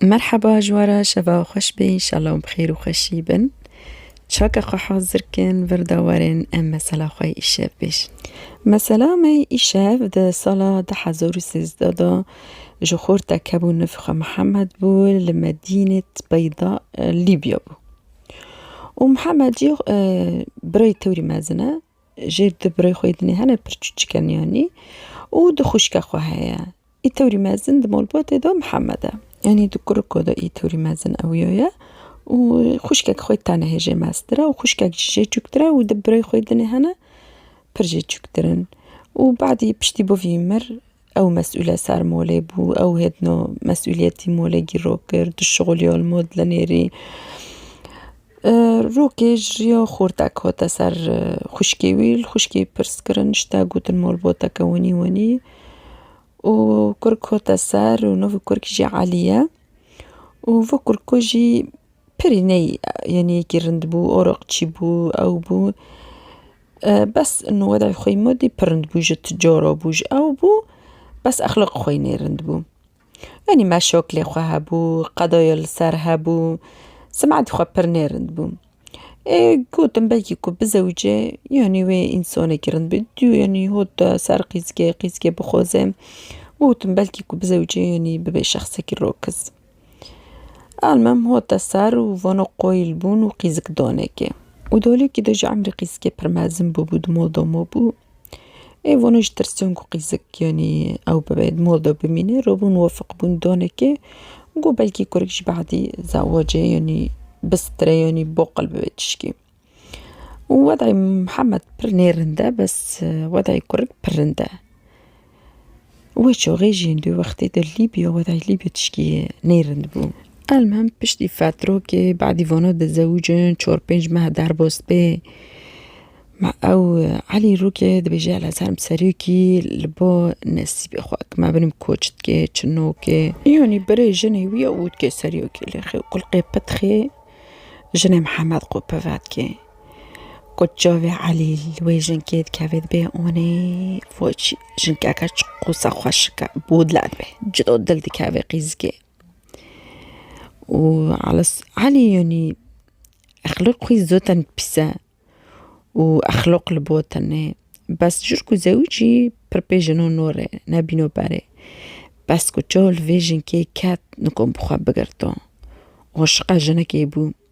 Merheba jiwara şeva xweş be înşala û bi xêr û xweşî bin. Çaka xwe hazir kin virda werin em mesela xwe yê îşev bêjin. Mesela me yê îşev di sala du hezar û sêzdeh de ji xorta kebû nivê xwe Mihemed bû li Medînet Beyda Lîbya bû. Û Mihemed jî birayê tewrî mezin e jê du birayê xwe yê din hene pir çûçik e niyanî û du xwişka xwe heye. Îtorî mezin di malbatê de Mihemed e. Yanî di kuriko de îtorî mezin ewiyo ye û xwişkek xwe tane hê jê meztir e û xwişkek jî jê çûktir e û di birayê xwe dinê hene pir jê çûktir in û badî piştî bûvî mir ew mesûl e ser malê bû ew hêdino mesûliyetî malê gîro kir di şixulîya li mal di nêrî Rokê ji riya xortek hate ser xwişkê wî, li xwişkê pirs kirin ji te gotin malbateke winî winî û kurk hate ser û navê kurk jî Elî ye û vê kurka jî pirî ney yanî yekî rind bû araqçî bû ew bû bes ino were xwe ma dît pir rind bû ji ti cara bû ji ew bû bes exlaqê xwe yî nêrind bû. Yanî me şok lê xwe hebû, qedoyê li ser hebû, simetê xwe pir nêrind bû. Ê gotim belkî ku bizewicê yanî wê însanekî rind bê. Dû yanî hot ser qîzgê, qîzgê bixoze. Gotim belkî ku bizewicê yanî bibê şexsekî rokiz. Elmim hot ser û vana qoyil bûn û qîzik danekê. Û dalokî de ji emrê qîzkê pir mezin bûbû, dima dama bû. Ev onê ji tirsan ku qîzik yanî ew bibe di mal de bimîne re bûn wefiq bûn danekê got belkî kurik ji behdî zewacê yanî bistire yanî baqil bibe tişkî. Û wedayî Mihemed pir nêrind e bes wedayî kurik pir rind e. Wê çaxê jî di wextê de Lîbya we dayî Lîbya tişkî nê rind bû. Elmem piştî fetrokê badî vana di zewicin çar pênc meh derbas bê me ew Elî rokê dibêje ela ser im serokî li ba nesîbê xwe eke me binim koç dikê çi nokê. Yanî birê jinê wî ya û dikê serokî lê xê kulqê pitxê jinê Mihemed Qopi vedikê. Ku çavê Elî li wê jinkê dikeve dibê onê foçî jinkeke çi qosa xweşike bû dile dibê cido dil dikeve qîzikê û Elis Elî yanî exlaq xwî zû ten pîs e û exlaq li bo tenê bes ji ku zewicî pir pê jino nûrê nebîno berê bes ku çav li vê jinkê ket nikom bi xwe bigirto aşiqa jinekê bû.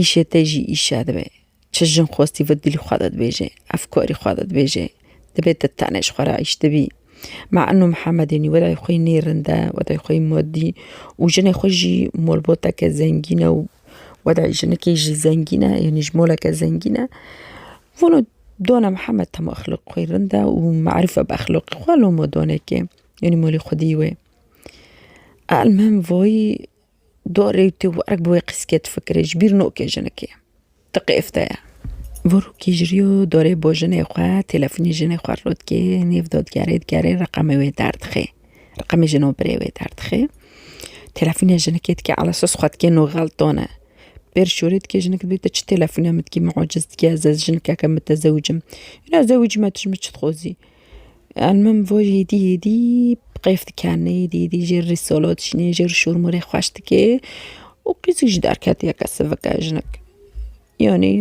Îşê te jî îş e divê çi jin xwestî vê dilî xwe de dibêjê, efkarî xwe de dibêjê. Divê te tenê ji xwe re îş de bî. Me eno Mihemedênî wedayê xwe yî nê rind e, wedayê xwe yî madî û jinê xwe jî malbateke zengîn e û wedayê jinikê jî zengîn e yanî ji maleke zengîn e. Vano dona Mihemed tema exlaqê xwe yî rind e û merife bi exlaqê xwe loma danekê yanî malê xwedî wê. Elmuhim vayî. Do rê û tê werg bi wê qîskê difikirê, ji bîr nokê jinikê. Ti qêfte ye. Vorokî ji rî û dorê bo jinê xwe, têlefonî jinê xwe rû dikê, nêv dotgerê digerê, reqemê wê derdixê. Reqemê jinobirê wê derdixê. Têlefonê jinikê dikê elesos xwe dikê no xeltone. Pêr şorê dikê jinik dibê ti çi têlefone min dikî min eciz dikî ez ez jinikeke mitezewicim. Îna zewicîme tu ji min çi dixwazî? Em min bo êdî êdî bi qeyf dikerine êdî êdî jê re solo dişîne jê re şûrmûrê xweş dike û qîzik jî derketiye ke sivike jinik yanî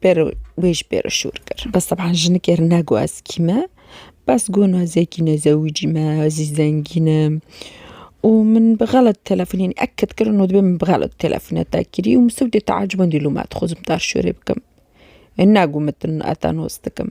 pêro wê jî pêro şûr kir bes teban jinikê re ne got ez kî me bes got ez ê kî me ez zewicî me ez ê zengîn im û min bi xelat telefonî yanî ek kit kirin û dibê min bi xelat telefon te kirî û min sûcdê teecibandî lûma dixwazim te şûrê bikim ne got min te nos dikim.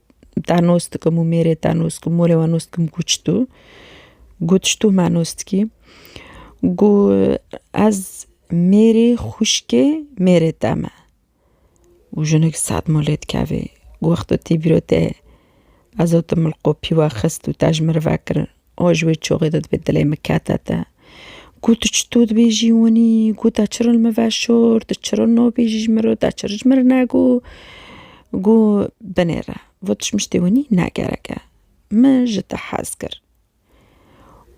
ta nostkim û mêrê ta nostkim morê we nostkim ku çi tu got ji tu me nostkî got ez mêrê xwişkê mêrê te me û jinik sed mal lê dikevê got tu tî bîro te ez otim li qopî we xist û te ji min re vekirin. O ji wê çûxê de divê dilê min kete te. Got tu çito dibê jî winî, got deçirin li min ve şor, tu çirin nabî jî ji min re, deçirin ji min re ne got. Got binê re, got ji min şitê winî ne gerek e. Min ji te hez kir.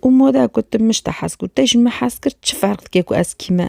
Û mada ku tu min ji te hez kir û te ji min hez kir çi ferq dike ku ez kî me?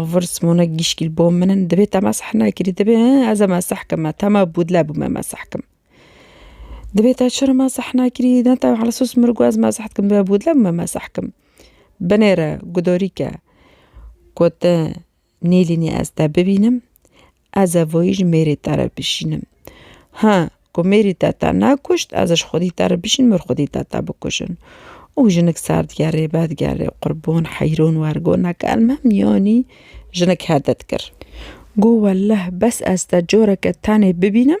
Ovir Simona Gîşkîl Bo min in divê te mesih nekirî divê ez e mesih kim me tema bûdle bû me mesih kim. Divê te çira mesih nekirî ne te heli sos min got ez mesih dikim divê bûdle bû me mesih kim. Binê re gudarî ke got nêlînî ez te bibînim Ez e voyî ji mêrê te re bişînim. Ha, ku mêrî te te nekuşt, ez ji xwedî te re bişînim û xwedî te te bikujin. Û jinik ser digerê, vedigerê, qurbon, heyron, wergon, neke em me miyanî jinik hedet kir. Got, Welleh, bes ez te careke tenê bibînim,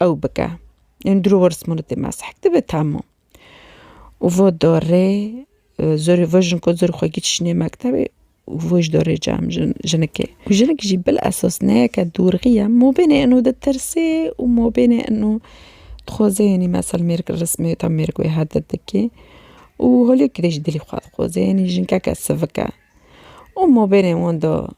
ew bike. Ên dûr û rismû li dê mezhek dibe tam o. Û vo dorê zorê vo jin ku zorê xwe giç çinê mektebê û vo ji dorê cem jin jinikê. Û jinik jî bil esos neyeke dûrxî ye. Mobênê inû ditirsê û mobênê inû dixwazê yanî mesel mêrik li rismê tam mêrik wê her di dikê û holê kidê jî dilî xwe dixwazê yanî jinkeke sivik e. Û mobênê wan da.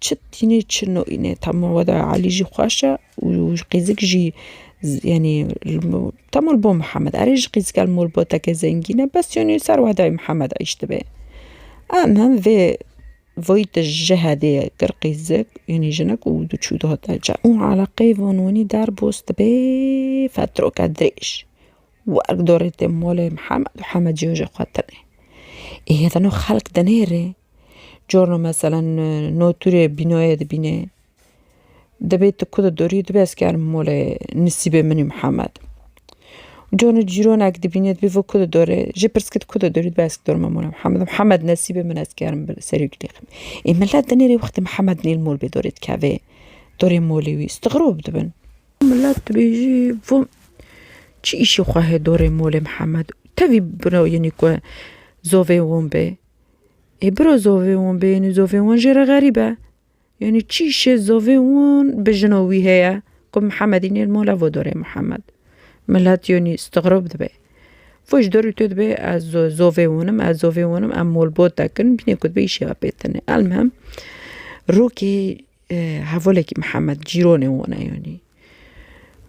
Çi tîne çi nîne tamam weda Elî jî xweş e û qîzik jî yanî tamam bo Mihemed erê ji qîzika li malbateke zengîn e bes yanî li ser weda Mihemed êş dibe. Em him vê vayî te ji hedê ye kir qîzik yanî jinik û du çû dihate çar û eleqeyê van wanî derbas dibe fetrake dirêj werk darê te malê Mihemed û Hemed ji xwe tune. Ê hêdana xelk dinêre. Corna mesela no tûrê bînayê dibîne dibê tu ku di dorî dibê ez karibe mole nisîbê min ê Mihemed. Cona cîronek dibîne dibê vê ku di dorê jê pirsgirê tu ku di dorî dibê ez karibim mole Mihemed. Mihemed nesîbê min ez karim bi serî wî lêxim. Ê milet di nêrê wextê Mihemed nêl mol bê dorê dikevê dorê molê wî istixirob dibin. Milet dibêjî vû çi îşê xwe hê dorê molê Mihemed tevî bira yenî ku zovê wan bê. Ê biro zovê wan bêyînî zovê wan jê re xerîb e. Yanî çî şê zovê wan bi jina wî heye ku Mihemedî nêr mala vodorê Mihemed. Milet yanî stixrob dibe. Fo ji dorî to dibe ez zovê wan im ez zovê wan im em molbot dikin bîne ku dibe îşê xwe pê tine. Elmihim rokê hevalekî Mihemed cîranê wan e yanî.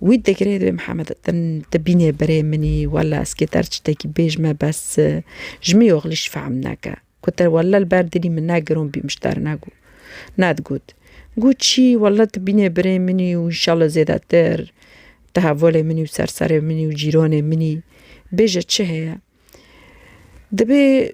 Wî digirê divê Mihemed din te bînê berê min î, walla ez kê der çitekî bêj me bes ji min yoxlî ji fehm neke. Ku te walla li ber dilî min ne giron bî min ji te re ne got. Ne digot. Got çî walla te bînê birê min î û înşallah zêdetir te hevolê min î û serserê min î û cîranê min î. Bêje çi heye? Divê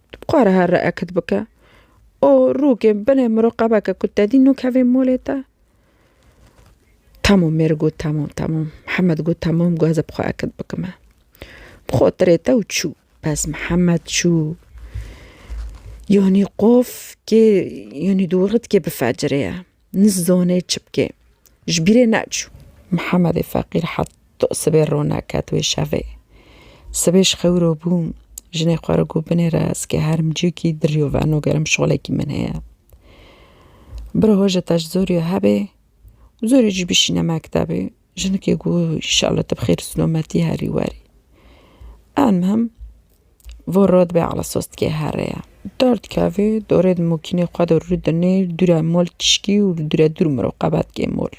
Dixware her re ekd bike û rûkê binê miroqebeke ku tedî nûkevê molê te. Tamam mêr got tamam tamam. Mihemed got tamam got ez ê bi xwe ekd bikime. Bi xwe tirê te û çû. Bes Mihemed çû. Yanî qof kê yanî dû wextkê bi fecirê ye. Nizdonê çi bikê. Ji bîrê neçû. Mihemedê feqîr hat to sibê rona ket wê şevê. Sibê ji xewro bûm, jinê xwe re got binê re ez kê herim cîkî dirîyo veno gerim şolekî min heye. Biro hoje te ji zorîyo hebê û zorî jî bişîne mektebê. Jinikê ku înşallah te bi xêr û silometî herî werî. Elmuhim vê rot bê ala sos dikê here ye. Dar dikevê, dorê di mokînê xwe de rû dinê, dûre mol tişkî û li dûre dûr mirov qebet dikê mol.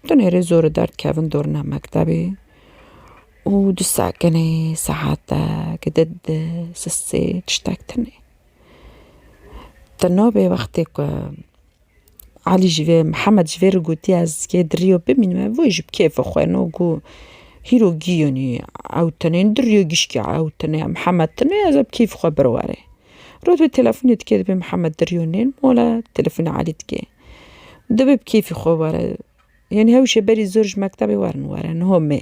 Di nêrê zor û der dikevin dorina mektebê û di sekinê saetek di di sisê tiştek tune. Di navê wextê ku Elî ji vê Mihemed ji vê re got ya ez kê di rîyo bimînim ev wê ji bi kêfa xwe no ku hîro gîyonî ew tenê di rîyo gişkî ew tenê ya Mihemed tenê ez ê bi kêfê xwe bir warê. Roj wê telefonê dike dibê Mihemed di rîyo nê wala telefonê Elî dikê. Dibê bi kêfê xwe were. Yanî hewşê berî zor ji mektebê werin were niho mê.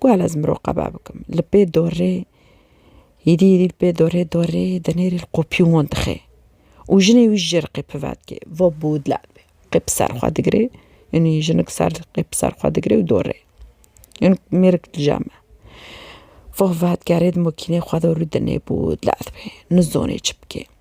Guhal ez miroqeba bikim. Li pê dorê hîrî hîrî li pê dorê dorê di nêrî li qopî wan dixê û jinê wî ji rqê pivedkê va bûdla be qê bi ser xwe digirê yanî jinik ser qê bi ser xwe digirê û dorê yan mêrik dija me va vat kerê di makînê xwe de rû dinê bûdla dibê nizanê çi bikê.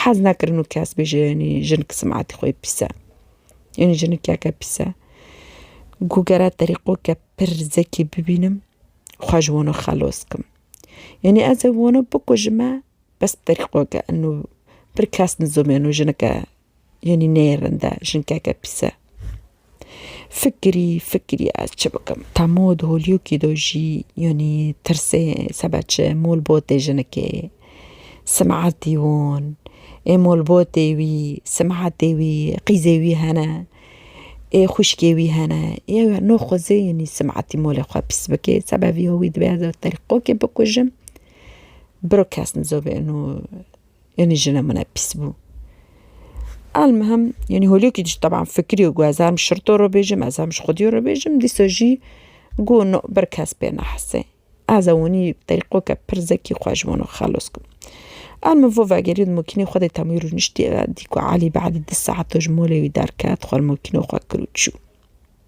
Hez nakirin û kes bêje yanî jinik simetê xwe yê pîs e. Yanî jinikeke pîs e. Ku gere terîqoke pir zekî bibînim xwe ji wan re xelos kim. Yanî ez ê wano bikujime bes terîqoke eno pir kes nizomî eno jinike. Yanî neyê rinde jinkeke pîs e. Fikirî fikirî ez çi bikim. Temo di holiyokî do jî yanî tirsê sebe çi molbotê jinikê simeetî wan ê molbotê wî simeetê wî qîzê wî hene ê xwişkê wî hene yew ya no xwezê yanî simeetî molê xwe pîs bikê sebe vîyo wî dibe ez telqokê bikujim biro kes nizo bê ino Yanî jina min e pîs bû. Elmihim yanî holokî jî teban fikirî û ez hem şirto re bêjim ez hem ji xwedî re bêjim dîsa jî got no bir kes pê nehesê. Ez ê winî bi terîqoke pir zekî xwe ji wan xelos kim. Elmim vo vegerî di makînê xwe de temî rûniştî dî ku Elî bedî di saeto ji malê wî derket xwe li makîna xwe kir û çû.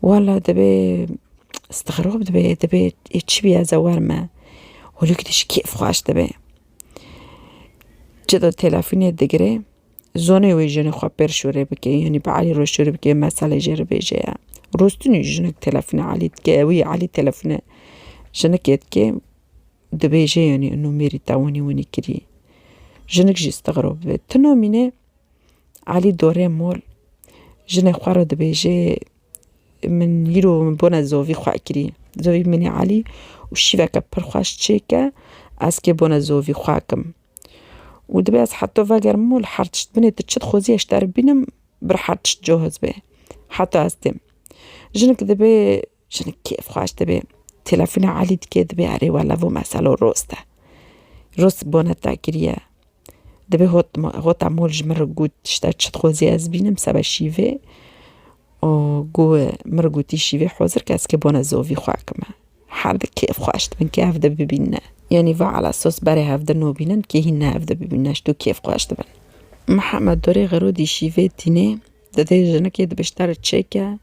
Wala divê stixrob dibê divê ê çi bî ez ê wer me. Holî ku tişt kêf xweş dibê. Çi do telefûnê digirê zonê wê jinê xwe pêr şûrê bikê yanî bi Elî re şûrê bikê meselê jê re bêje ya. Rostinî jinik telefûna Elî dike ewî Elî telefûna jinikê dikê dibêje yanî nûmerî te winî winî kirî. Jinik jî stixrob dibê. Ti namîne Elî dorê mol jinê xwe re dibêje min îro min bone zovî xwe kirî. Zovî min e Elî û şîveke pir xweş çêke ez kê bone zovî xwe kim. Û dibê ez heta vegerim mol her tişt binê tu çi dixwazî ez ji te re bînim bir her tişt cohizbe heta ez têm. Jinik dibê Jinik kêf xweş dibê. Telefona Elî dike dibê erê we lavo meselo rost e. Rost bone takiriye. Dibê hot hota mol ji min re got tişta çi dixwazî ez bînim seba şîvê û ku min re gotî şîvê hozir ke ez kê bone zovî xwe kime. Her di kêf xweş dibin ke hev de bibînine. Yanî va ala sos berê hev de nobînin kê hîn ne hev de bibînine ji to kêf xweş dibin. Mihemed dorê xerodî şîvê tînê didê jinikê dibe ji te re çêke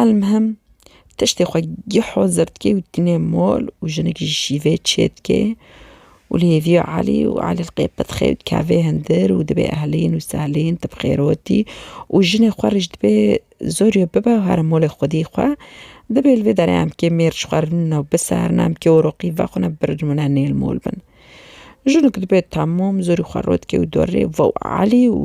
Elmhim tiştê xwe geh hozir dike û tîne mol û jinik jî şîvê çê dike û li hêviya Elî û Elî li qê pidixê û dike vê hindir û divê ehlîn û sehlîn ti bi xêrotî û jinê xwe rê jî dibê zor ya bibe û here molê xwedî xwe dibê li vê derê em kê mêr ji xwe re rûne û biserine em kê oroqî vexwine birîmune nêl mol bin. Jinik dibê temam zorî xwe rot dike û dorê Wow Elî û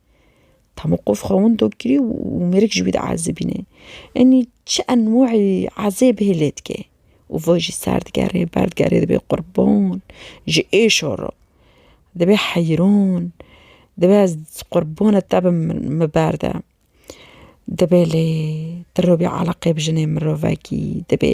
Tamû qof xwe windo kirî û mêrik ji wî diezibîne. Enî çi enwacî ezêb hê lê dike û va jî ser digere ber digere dibê qurban ji êşa re. Dibê heyran, dibê ez qurbana te bim min ber de. Dibê lê tu re bî eleqeyê bi jinê mirovekî dibê.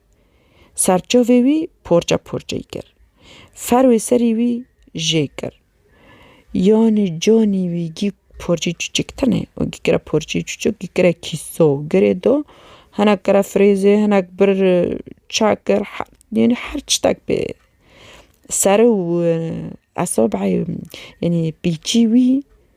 Ser çavê wî porçe porçeyî kir. Fer wê serî wî jê kir. Yanî canî wî gî porçeyî çûçik tenê û gî kire porçeyî çûçik gî kire kîso girê do. Hinek kire firêzê hinek bir çe kir yanî her çitek bê sere û esabeyê yanî pîçî wî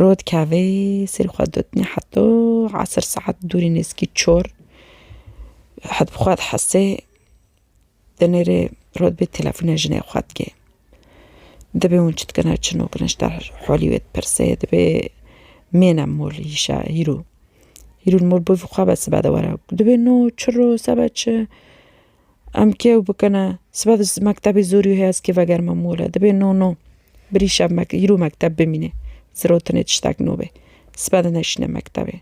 Rod kevê serî xwe dotnî heto esir saet dûrî nêzîkî çor hev bi xwe dihesê di nêrê rod bê telefona jinê xwe dike. Dibê hûn çi dikine çi nakine ji te halî wê dipirsê dibê mêne mol îşa hîro. Hîro li mol bivê xwe be sibe de were dibê no çiro sebe çi. Em kêw bikine sibe di mektebê zorî heye ez kê vegerime mole dibê no no birî şev îro mekteb bimîne zirotinê tiştek no bê sibe di neşîne mektebê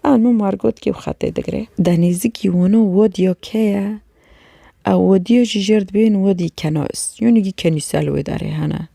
a min war got kêw xetê digre. Denêzikî wano wadiya ke ye ew wadiya jî jêr dibê wîn wadî kenais yanî kenîsel wê derê hene.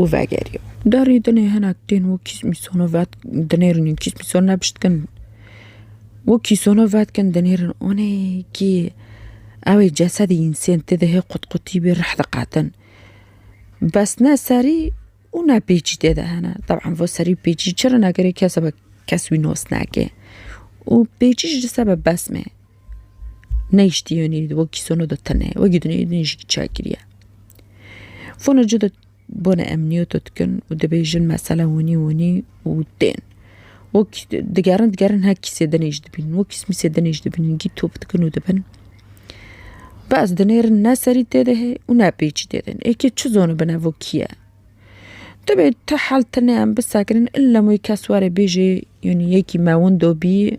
û vegeriyo. Derî dinê hinek tên wû kîsmîsono vet dinêrin û kîsmîson nebiştkin. Wû kîsono vetkin dinêrin onê kî ewê cesedê însên tê de hê qutqutî bê rih diqetin. Bes ne serî û ne pêçî tê de hene. Teban vo serî û pêçî çi rina gerê kesebe kes wî nos nake. Û pêçî ji sebe besmê. Neyştiyonî di wekî sono do tene ye, wekî dinê din jî çek kiriye. Fono ci do bone emniyoto dikin û dibêjin mesela winî winî û tên. Wek digerin digerin her kîsê dinê jî dibînin wek kîsmîsê dinê jî dibînin gît top dikin û dibin. Bes dinêrin ne serî tê de hê û ne pêçî tê de hê. Êkê çi zonu bine vo kî ye? Dibê ti hel tine em bisekirin illa moy kes were bêjê yonî yekî mewin do bî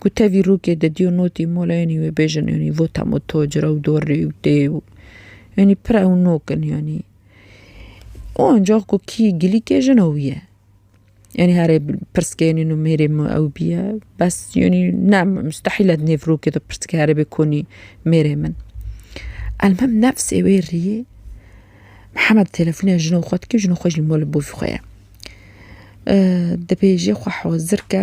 Ku tevî rûkê de dîyo notî mola yanî wê bêjin yanî vota me tocir ew dorrî û tê û yanî pir ew nok in yanî. O ancax ku kî gilîkê jin ew ye. Yanî herê pirsgê yanî no mêrê me ew bîye bes yanî ne mustehîl e di nêv rûkê de pirsgê here bê konî mêrê min. Elmim nefsê wê rîyê Mihemed telefonîya jina xwe dike jina xwe jî mala bavî xwe ye. Dibêje xwe hozir ke.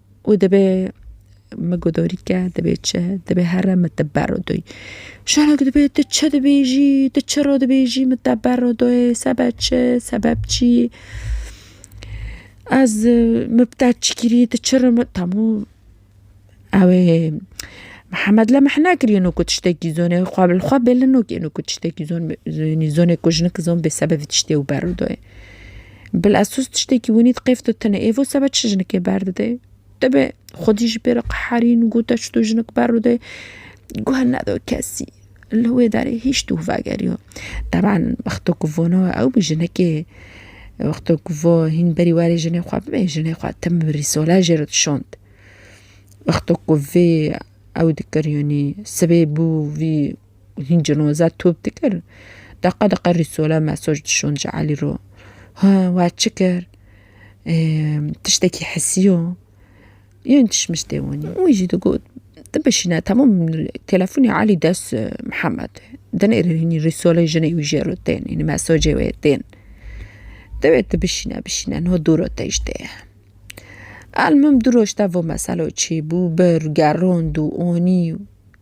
û dibê min guhdorîke dibê çi dibê here min te ber û doyî şerek dibê tu çi dibêjî tu çira dibêjî min te ber û doyê sebe çi sebeb çî ez min bi te çi kirî tu çi min temû ew ê Mihemed li mihne kirî û ku tiştekî zonê xwe li xwe bêlin û ku tiştekî zonê zonê ku jinik zon bê sebevê tiştê û ber û doyê. Bil ez sos tiştekî winî diqêf tu tine êvo sebe çi jinikê berdide. Debe xwedî jî pêre qeherîn û gote çi tu jinik berûde guh nedo kesî. Li wê derê hîç tu vegeriyo. Teban wexto ku vono ew bi jinikê wexto ku vo hîn berî werê jinê xwe bibe jinê xwe tim bi rîsola jê re dişond. Wexto ku vê ew dikir yanî sibê bû vî Hîn cinoza top dikir. Deqa deqa rîsole mesaj dişon ji Elî ro. Ha we çi kir? Tiştekî hisiyo? Yên tişmiştê wanî. Wî jî digot tu bişîne temam telefonê Elî dest Mihemed e. Dinêre hînî rîsolê jinê wî jê re tên hînî mesajê wê tên. Divê tu bişîne bişîne niha dû re têj tê ye. Elmim du roj tevve meselo çêbû bir gerand û anî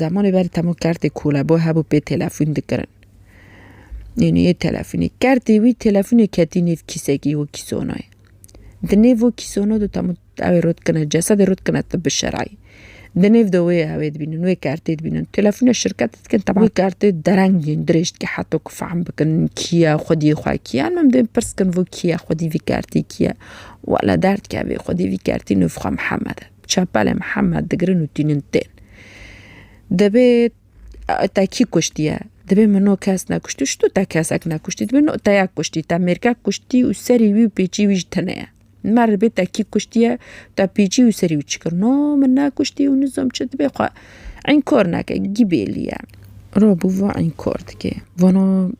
Zemanê ber temo kertê kolebo hebû pê telefûn dikirin. Nênûyê telefûnê kertê wî telefûnê ketî nêv kîsekî û kîsonoyê. Di nêv û kîsono de temo ewê rû dikine cesedê rû dikine tib bi şerayî. Di nêv de wê ewê dibînin wê kertê dibînin. Telefûnê şirketê dikin teba wê kertê dereng yên dirêj dike heto ku fehm bikin kî ye xwediyê xwe kî ye. Em dê pirs bikin vû kî ye xwedî vî kertî kî ye. Wele derdikeve xwedî vî kertî nûv xwe Mihemed e. Çepelê Mihemed digirin û tînin tên. Dibê te kî kuştiye? Dibê min no kes nekuştî ji tu te kesek nekuştî dibê no te yek kuştî te mêrkek kuştî û serî wî û pêçî wî ji tine ye. Mer dibê te kî kuştiye te pêçî û serî wî çi kir? No min nekuştî û nizom çi dibê xwe înkor neke gî bêlî ye. Rob û va înkor dike vana.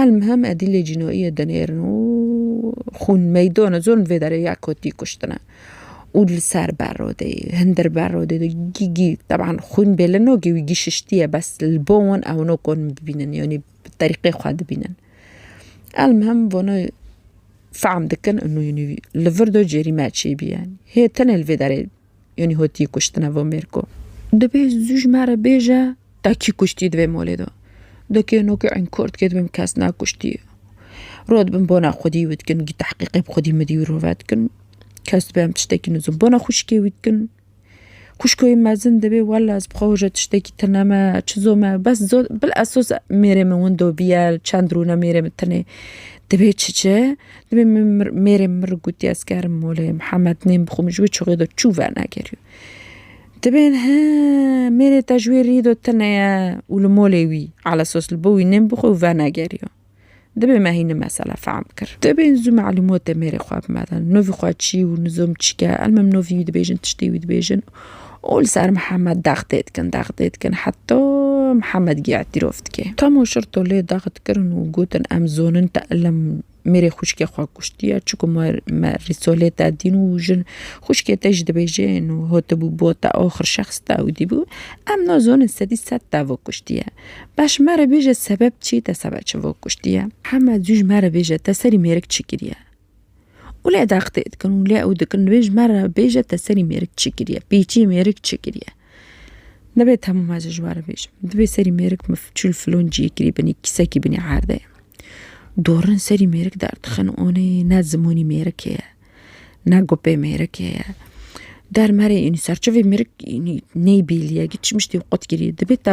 Elmuhim Edîlê Cînoyê dinêrin û xûn meydana zor li vê derê ya kotî kuştine. Û li ser berodê, hindir berodê de gî gî teban xûn bê li no gî wî gî şiştiye bes li bo wan ew no kon bibînin yanî bi terîqê xwe dibînin. Elmuhim vana fehm dikin û nû li vir de cêrî me çêbî ye. Hê tenê li vê derê Yonî hotî kuştine vo mêrko. Dibê zû ji me re bêje te kî kuştî di vê molê de. Di kê no kê ên kurd kê dibim kes nekuştî. Ro dibim bona xwedî wî dikin gî tehqîqê bi xwedî midî wî rove dikin. Kes dibê em tiştekî nizin bona xwişkê wî dikin. Xwişko yê mezin dibê wela ez bi xwe hoja tiştekî tune me çi zome bes zod bil esos mêrê min windo bîye çend rûne mêrê min tune dibê çi çi. Dibê min mêrê min ri gotiye ez gerim molê Mihemed nêm bixwe min ji wê çuxê de çû vernekeriyo. Dibê he mêrê te ji wê rî de tune ye û li molê wî ala sos li bo wî nêm bixwe û vernegeriyo. Dibê me hîn mesela fehm kir. Dibê zû malûmotê mêrê xwe bimedin. Nûvî xwe çî û nizom çike elmim nûvî wî dibêjin tiştê wî dibêjin û û li ser Mihemed dex tê dikin, dex tê dikin heta Mihemed giya tîrov dike. Tam û şirto lê dex dikirin û gotin em zonin te ilim mêrê xwişkê xwe kuştiye çi ku me Rîsolê te dîn û jin xwişkê te jî dibêjin û hatibû bo te axir şexs te ewdî bû em nazonin sedî sed te ve kuştiye. Baş me re bêje sebeb çi te sebe çi ve kuştiye. Mihemed zû ji me re bêje te serî mêrik çi kiriye. û lê deqtê dikin û lê ew dikin divê ji me re bêje te serî mêrik çi kiriye pêçî mêrik çi kiriye nebe temam ez ji wan re bêjim divê serî mêrik min çil filon ciyê kirî binî kîsekî binî erde ye dorin serî mêrik derdixin onê ne zimanî mêrik heye ne gopê mêrik heye dermerê înî serçeyê mêrik înî neyê bîliye giçmiş tê qut kirî dibê te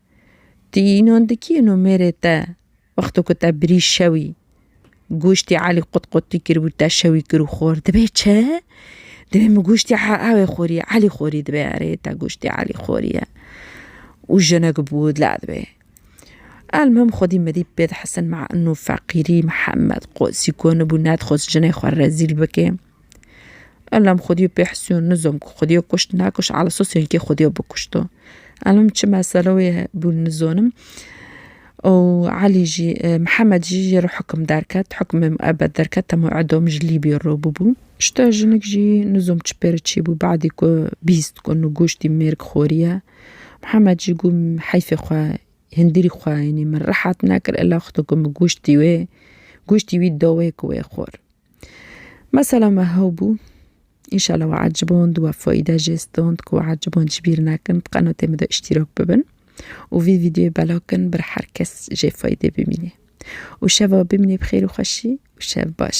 Ti înan dikî ino mêrê te wexto ku te birî şewî goştî Elî qutqutî kiribû te şewî kirû xor dibê çi? Dibê min goştî ewê xorî Elî xorî dibê erê te goştî Elî xorî ye û jinik bû dila dibê. Elmuhim xwedî medî pê dihesin ma ino feqîrî Mihemed qosî konibû nedixwest jinê xwe rezîl bike. Elam xwedî pê hisiyo nizom ku xwedî kuşt nekuşt ala sas wekî xwedî bikuşto. Elam çi mesele wê bû nizanim. Ew Elî jî Mihemed jî jê re hikim derket hikimê miebed derket hema edom ji Lîbya re bûbû. Ji te jinik jî nizom çi pê re çî bû badî ku bîst ku nu goştî mêrg xweriye. Mihemed jî got heyfê xwe hindîrî xwe yanî min rehet nekir ela xwedî ku min goştî wê goştî wî daweyê ku wê xwar. Mesela me hew bû. Înşala we eciband we fayde jê stand ku we eciband jî bîr nekin bi qenatê min de îştîrak bibin û vî vîdyoyê belav kin bir her kes jê faydê bimîne. Û şeva bimîne bi xêr û xweşî û şev baş.